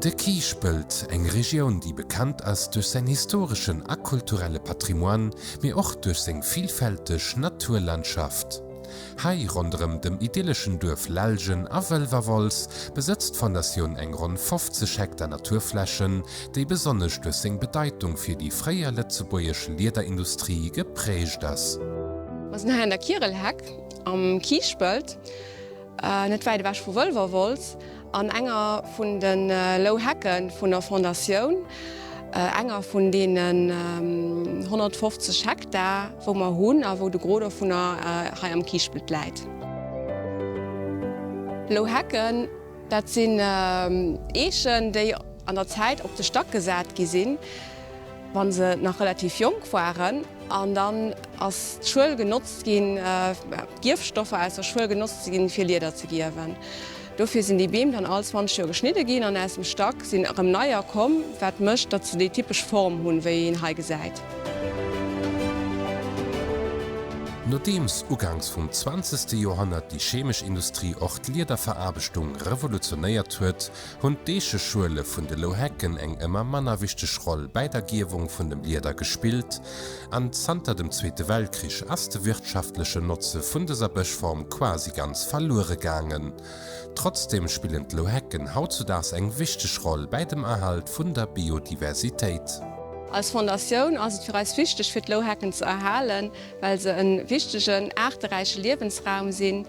De Kiischpelt, eng Regioun déi bekannt ass duerch säin historeschen a kulturelle Patrimoine, mee och duerch seng villfälteg Naturlandschaft. Hei, ronderëm dem idylleschen Duerf Lellgen a Wëlwerwolz, besëtzt d'Fondatioun eng ronn 50 Hektar Naturflächen, déi besonnesch duerch seng Bedeitung fir déi fréier lëtzebuergesch Liederindustrie geprägt ass. Mer sinn hei an der Kierelheck am Kiischpelt. Net wäit ewech vu Wëlwerwolz, an enger vun de Lou Hecke vun der Fondatioun, enger vun deenen 150 Hektar, wou mer hunn a wou de Gros dovunner hei am Kiischpelt läit. Lou Hecken, dat sinn Eechen, déi an der Zäit op de Stack gesat gi sinn. wann se nach relativ jonk waren, an dann ass d'Schuel genotzt ginn, d'Gierfstoffer aus der Schuel genotzt ginn, fir Lieder ze gierwen. Dofir sinn déi Beem dann all 20 Joer geschnidde ginn an aus dem Stack sinn erëm neier komm, wat mécht, datt se déi typesch Form hunn, wéi een hei gesäit. Nodeems uganks vum zwanzegste Joerhonnert déi chemesch Industrie och d'Liederveraarbechtung revolutionéiert huet, hunn d'Eecheschuele vun de Louhecken eng ëmmer manner wichteg Roll bäi der Gierwung vun dem Lieder gespillt an zanter dem Zweete Weltkrich ass de wirtschaftlechen Notze vun dëser Bëschform quasi ganz verluere gaangen. Trotzdeem spillen d'Louhecken hautzudaags eng wichteg Roll bäi dem Erhalt vun der Biodiversitéit. Als Fondatioun ass et fir eis wichteg fir d'Louhecken ze erhalen, well se en wichtegen aarteräiche Liewensraum sinn.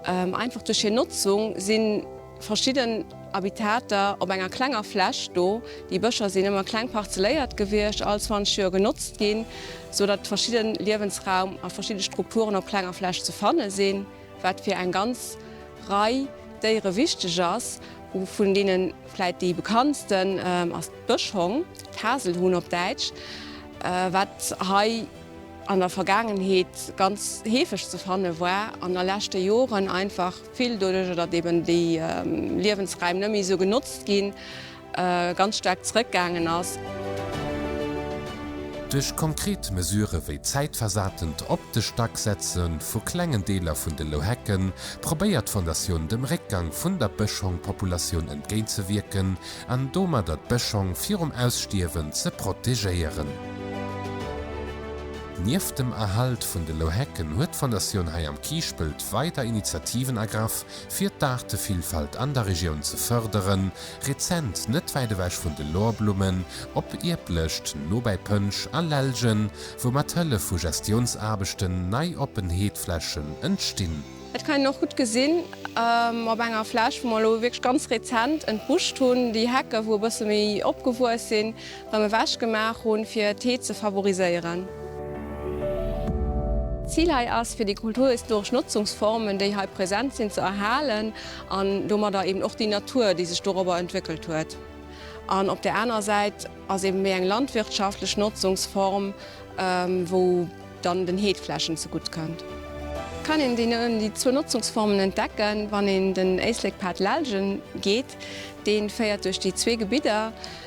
Einfach duerch hir Notzung sinn. Verschidden Habitater op enger klenger Fläch do. Déi Bëscher sinn ëmmer kleng parzelléiert gewiescht, all 20 Joer genotzt ginn, sou datt verschidde Liewensraum a verschidde Strukturen op klenger Fläch ze fanne sinn, wat fir eng ganz Rei Déiere wichteg ass. Vun deene vläit déi bekanntsten ass d'Bëschhong, d'Haselhuhn op Däitsch, wat hei an der Vergaangenheet ganz heefeg ze fanne war, an a leschte Joren einfach vill doduerch datt eben déi Liewensräim net méi esou genotzt ginn, ganz staark zrëckgaangen ass. Duerch konkret Mesurë wéi zäitversatent op de Stack setze vu klengen Deeler vun de Louhecken, probéiert d'Fondatioun dem Réckgang vun der Bëschhongpopulatioun entgéintzewierken an domadder d'Bëschhong virum Ausstierwen ze protegéieren. Nieft dem Erhalt vun de Louhecken huet d'Fondatioun hei am Kiischpelt weider Initiativen ergraff, fir d'Aartevillfalt an der Regioun ze fërderen, rezent net wäit ewech vun de Lorblummen op Ierblëscht no bäi Pënsch a Lellgen, wou mat Hëllef vu Gestiounsaarbechten nei oppen Heedflächen entstinn. Dat kann een och gutt gesinn op enger Fläch, wou mer elo wierklech ganz rezent entbuscht hunn. Déi Hecke wou e bësse méi opgewuess sinn, Rem ewech gemaach hunn fir d'Heed ze favoriséieren. D'Zil hei ass fir déi kulturhistoresch Notzungsformen déi hei present sinn ze erhalen an domadder eben och déi Natur déi sech dorobber entwéckelt huet an op der aner Säit ass eben méi eng landwirtschaftlech Notzungsform wou dann den Heedflächen ze gutt kënnt. Kann een déi zwou Notzungsformen entdecken wann een den Éislekpad Lellgen geet, deen féiert duerch déi zwee Gebidder.